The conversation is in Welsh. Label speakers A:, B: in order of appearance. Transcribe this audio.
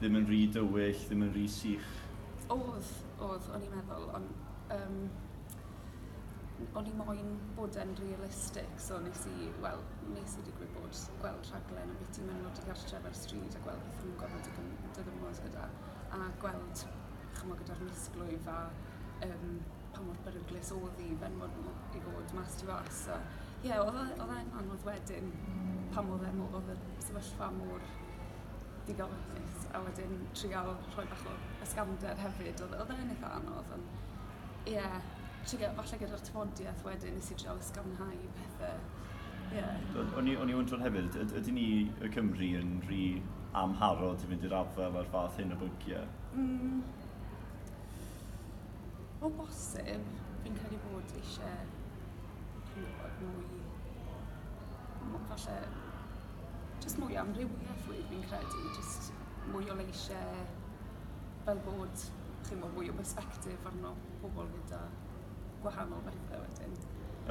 A: ddim yn rhy dywyll, ddim yn rhy sych. Oedd,
B: oedd, o'n i'n meddwl, ond um, o'n i moyn bod yn realistig, so nes i, wel, nes i digwydd bod gweld rhaglen o beth ti'n mynd nod i gartref ar stryd a gweld beth nhw'n gorfod dydymod gyda, a gweld, chymod, gyda'r misglwyf a um, pa mor beryglus oedd i fenwod nhw i fod mas tu fas. So, ie, yeah, oedd e, e e'n anodd wedyn pan oedd e oedd y sefyllfa mor digon hapus a wedyn trial rhoi bach o ysgafnder hefyd odd odd e'n itha anodd on' ie trigo falle gyda'r tafodieth wedyn nes i trial ysgafnhau pethe. Ie. Wel o'n i o'n i
A: wndran hefyd yd- ydyn ni y Cymry yn ry amharod i fynd i'r afel a'r fath hyn o bygie? Mm.
B: O bosib fi'n credu bod eisie chi'n gwbod mwy m- falle Jyst mwy o amrywieth rwy- fi'n credu jyst mwy o leishe fel bod chi'mo' mwy o bersbectif arno pobol gyda gwahanol bethe wedyn.